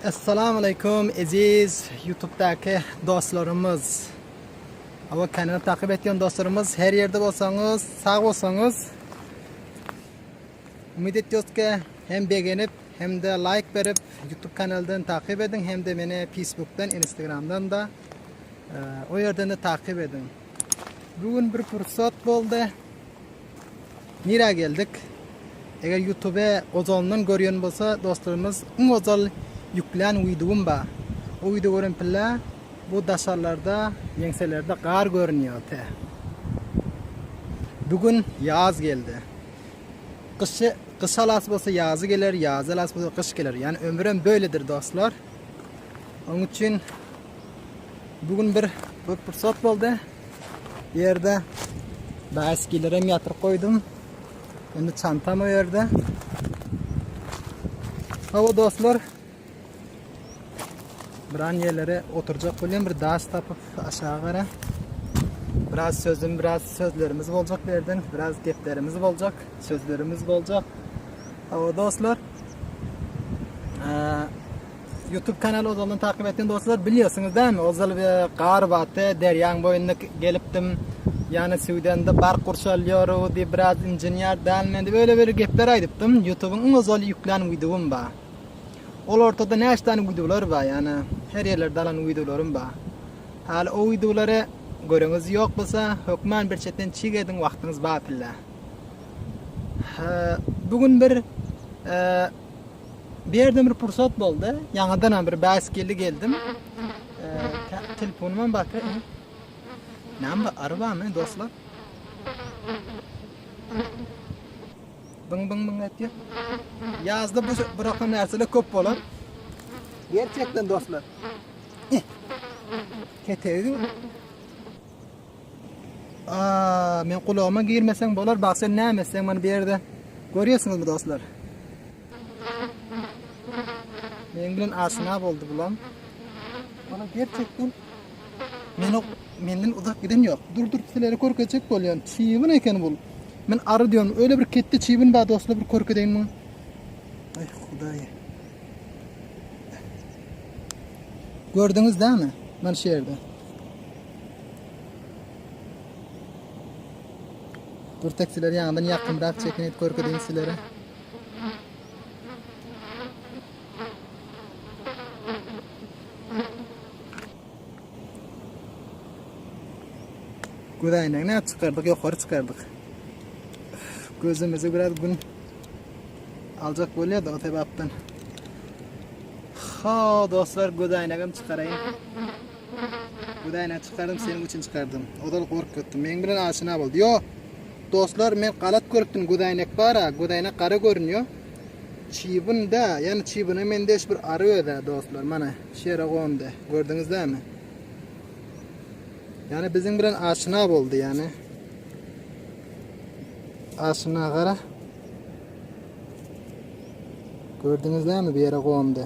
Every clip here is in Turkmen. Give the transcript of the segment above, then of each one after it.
Assalamu aleykum eziz YouTube'daki dostlarymyz. Ava kanaly takip etýän dostlarymyz her ýerde bolsaňyz, sag bolsaňyz. Umyt etýäs ki, hem begenip, hem de like berip, YouTube kanalyndan takip ediň, hem de meni Facebook'dan, Instagram'dan da e, o ýerden de takip ediň. Bugün bir pursat boldy. Nirä geldik? Eger ýutube ozalyndan görýän bolsa dostlarymyz iň ozal ýüklän wideom ba. O wideo gören pille bu daşarlarda ýeňselerde gar görünýär te. Bu gün ýaz geldi. Gyşy gyş alasy bolsa ýazy geler, ýazy alasy bolsa gyş geler. Ýani ömürem böledir dostlar. Onuň üçin bu gün bir bir pursat boldy. Bu ýerde bäskilerem ýatyryp goýdum. Indi çantam o ýerde. Hawa dostlar. Biran ýerlere oturjak bolýan bir daş tapyp aşağı gara. Biraz sözüm, biraz sözlerimiz boljak bu ýerden, biraz geplerimiz boljak, sözlerimiz boljak. Hawa dostlar. Ee, Youtube kanaly ozaldan takyp etdim dostlar. Bilýärsiňiz dämi? Ozal bir gar batdy, derýaň boýunda gelipdim. Ýani süwdende bark gurçalýar diýip biraz injenýär däl men diýip öyle bir gepler aýdypdym. Youtubyň iň ozal ýüklän wideom bar. Ol ortada näçe tane wideolar bar ýani her ýerlerde alan wideolarim bar. Häli o wideolary göreňiz ýok bolsa hökman bir çetden çig ediň wagtyňyz bar pille. Bugün bir e, Birden bir pursat boldy. Ýaňadanam bir bäs geldi geldim. Telefonuma bakyp. Näme arabamy dostlar? Bing bing bing etdi. Ýazda bu bırakma närsele köp bolar. Gerçekten dostlar. Ketegin Aaa men gulagyma girmeseň bolar bak sen näme etseň mana bu ýerde görýärsiňizmi dostlar. Meň bilen aşyna boldy bulam. Bana gerçekten men o menden uzak giden yok. Dur dur sizlere körkezjek bolýan. Çiwin eken bul. Men arı diyorum. Öyle bir ketdi çiwin bar dostlar bir körkedeýin muny. Ay hudaý. Gördüňiz dämi? Mana şu ýerde. Dur taksiler ýaňdan ýakymrak çekin et görkezeýin sizlere. Göz aýnagyny aç çykardyk, ýokary çykardyk. Gözümizi biraz gün aljak bolýardy o sebäpden. Ha, dostlar, göz aýnagym çykaraýyn. Hudaýyna çykardym seniň üçin çykardym. Ozal gork ýotdum. Meň bilen aşyna bol. Ýo. Dostlar men galat görüpdim Gudaýnek bara Gudaýnek gara görünýo. Çybyn da ýani çybyna mendeş bir ary öda dostlar mana şu ýere gondy. Gördüňiz dämi? Ýani biziň bilen aşyna boldy ýani. Aşyna gara. Gördüňiz dämi bir ýere gondy.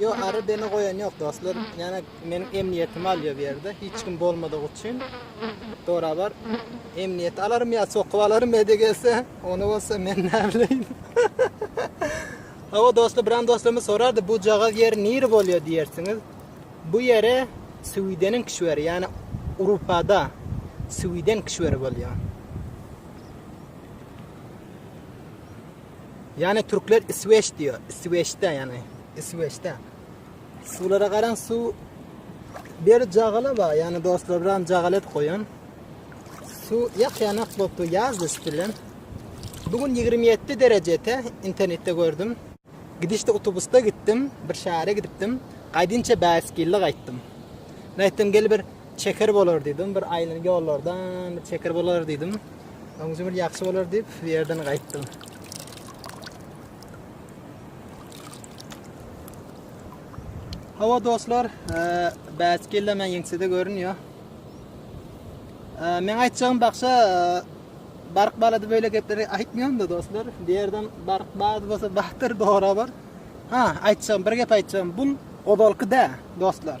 Yo ary beni goýan ýok dostlar ýana meniň emniýetimi alýa bu ýerde hiç kim bolmadygy üçin dorabar emniýeti alarym ýa sokup alarym ede gelse ony bolsa men näbileýin Hawa dostlar biram dostlarymyz sorardy bu jagaz ýeri niri bolýa diýersiňiz bu ýere Swideniň kişweri ýani Urupada Swiden kişweri bolýa Ýane türkler isweç diýýär. Isweçde ýane. Isweçde. Suwlara garaň suw bir jagala bar. Ýane dostlar bilen jagalet goýan. Suw ýakýanak bolupdy ýaz düşüp bilen. Bugün 27 derejede internetde gördüm. Gidişde otobusda gitdim, bir şähere gidipdim. Gaýdynça bäsgilli gaýtdym. Nätdim gel bir Çeker bolar diýdim, bir aýlanyp ýollardan bir çeker bolar diýdim. Öňüňiz bir ýagşy bolar diýip, bu ýerden gaýtdym. Hawa dostlar, e, bäs geldi men ýeňsede görünýär. E, men aýtjagym bakşa e, bark balady böyle gepleri aýtmýan da dostlar. Bu ýerden bark bad bolsa bahtyr dogry bar. Ha, aýtjagym bir gep aýtjagym, bu ozalky dä dostlar.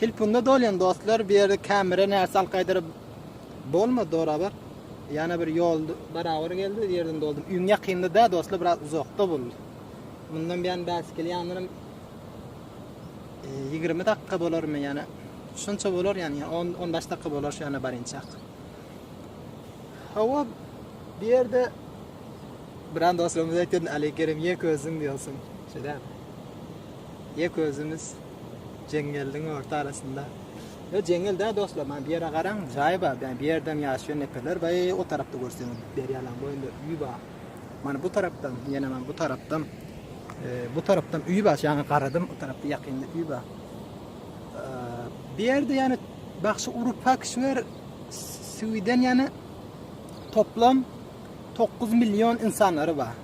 Telpunda dolýan dostlar bu ýerde kamera närse al gaýdyr bolmady dogry habar ýana bir ýol barabar geldi bu ýerden doldum üýň ýakynda dä dostlar biraz uzakda boldy mundan bäri bäs gel ýanlarym 20 dakika bolarmy ýana şunça bolar ýany 10 15 dakika bolar şu ýana barynçak hawa bu ýerde Bran dostlarymyz aýtýan Ali Kerem ýek özüň diýýärsiň şeýdämi Ýek özümiz jeňňeldiň orta arasynda. Ýo jeňňel däl dostlar, maňa bu ýere garaň, jaý bar, bä bu ýerdem ýaşaýan neperler bar, e o tarapda görseň derýalaň boýunda uý bar. Mana bu tarapdam, ýene maňa bu tarapdam, e, bu tarapdam uý bar, şaňa garadym, o tarapda ýakynda uý bar. E, bu ýerde ýane bagşy Urupa kişiler Sweden ýane toplam 9 million insanlary bar.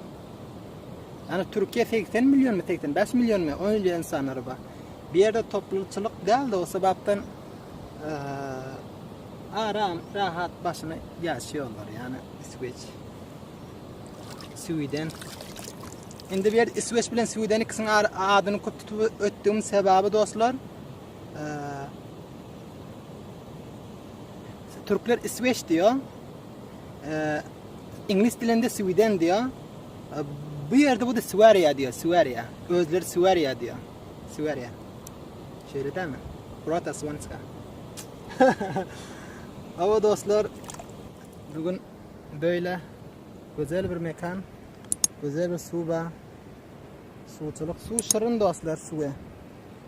Ýagny Türkiýe segsen millionmy segsen bäş millionmy öýli insanlary bar. Bu ýerde toplumçylyk däldi o sebäpden aram rahat başyny ýaşaýarlar ýagny isweç sweden indi bir ýerde isweç bilen sweden ikisini adyny köp tutup ötdügim sebäbi dostlar türkler isweç diýýär Iňlis dilinde Sweden diýýär. Bu ýerde bu da Swariýa diýýär, Swariýa. Özleri Swariýa diýýär. Swariýa. Şeýle dämi? Prota Swanska. Awa dostlar, bu gün beýle gözel bir mekan, gözel bir suwa, suwçylyk, suw şirin dostlar, suwa.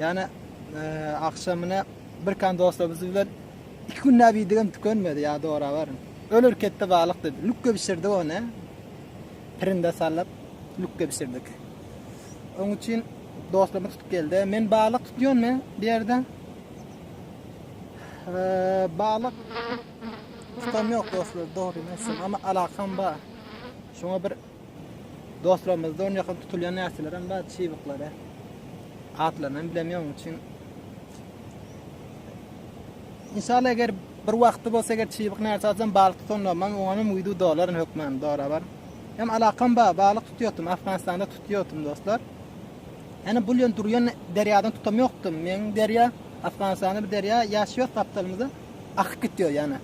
Ýane agşamyna bir kan dostumyz bilen iki günläp iýdigim tükenmedi, ýa dora baryn. Öler ketde balyk dedi. Lükge bişirdik ony. Pirinde salyp lükge bişirdik. Oň üçin dostum tutup geldi. Men balyk tutýan men bu ýerde. Ee, balyk tutam ýok dostlar, dogrymy aýtsam, amma alakam bar. Şoňa bir Dostlarymyzda ony ýakyn tutulýan närseler hem bar, çybyklary. Atlaryny hem bilemýän, onuň üçin. Inşallah eger bir wagty bolsa eger çybyk närse alsam balyk tutanlarym hem oňa hem wideo dolaryn hökman dorabar. Hem alakam bar, balyk tutýardym, Afganistanda tutýardym dostlar. Ýani bu ýen durýan derýadan tutam ýokdum. Meň derýa Afganistanda bir derýa ýaş ýok gapdalymyzda akyp gitýär ýani.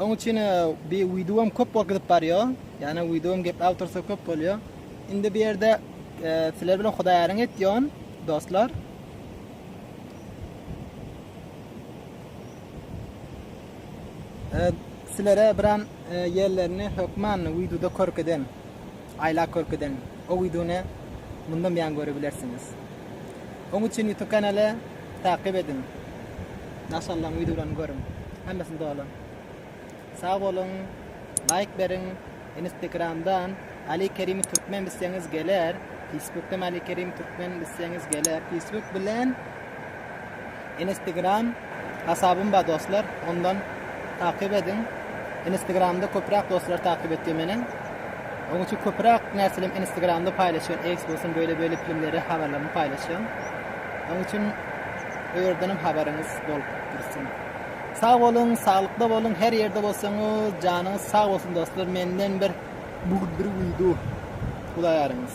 Oň üçin bi wideom köp bolup gidip barýar. Ýani wideom gep awtorsa köp bolýar. Indi bu ýerde sizler bilen hudaýaryň etýän dostlar. Sizlere biran ýerlerini hökman wideoda körkezen. Aýlag körpeden o wideony mundan beýan görebilersiňiz. Oň üçin ýutub kanaly takyp ediň. Naşallaň wideolaryny görüň. Hemmesini doly. Sag boluň. Laýk beriň. Inistekramdan Ali Kerimi Türkmen bizseňiz geler. Feýsbukdan Ali Kerimi Türkmen bizseňiz geler. Feýsbuk bilen. Inistigram hasabym bar dostlar ondan takyp ediň Inistgramda köpräk dostlar takyp etdi meniň Oň üçin köpräk närselerim Inistgramda paýlaşýan eks bolsun böyle böyle filmleri habarlaryny paýlaşýan Oň üçin o ýerdenem habaryňyz bolup dursun. Sag boluň saglykda boluň her ýerde bolsaňyz janyňyz sag bolsun dostlar menden bir bir wido Hudaýaryňyz.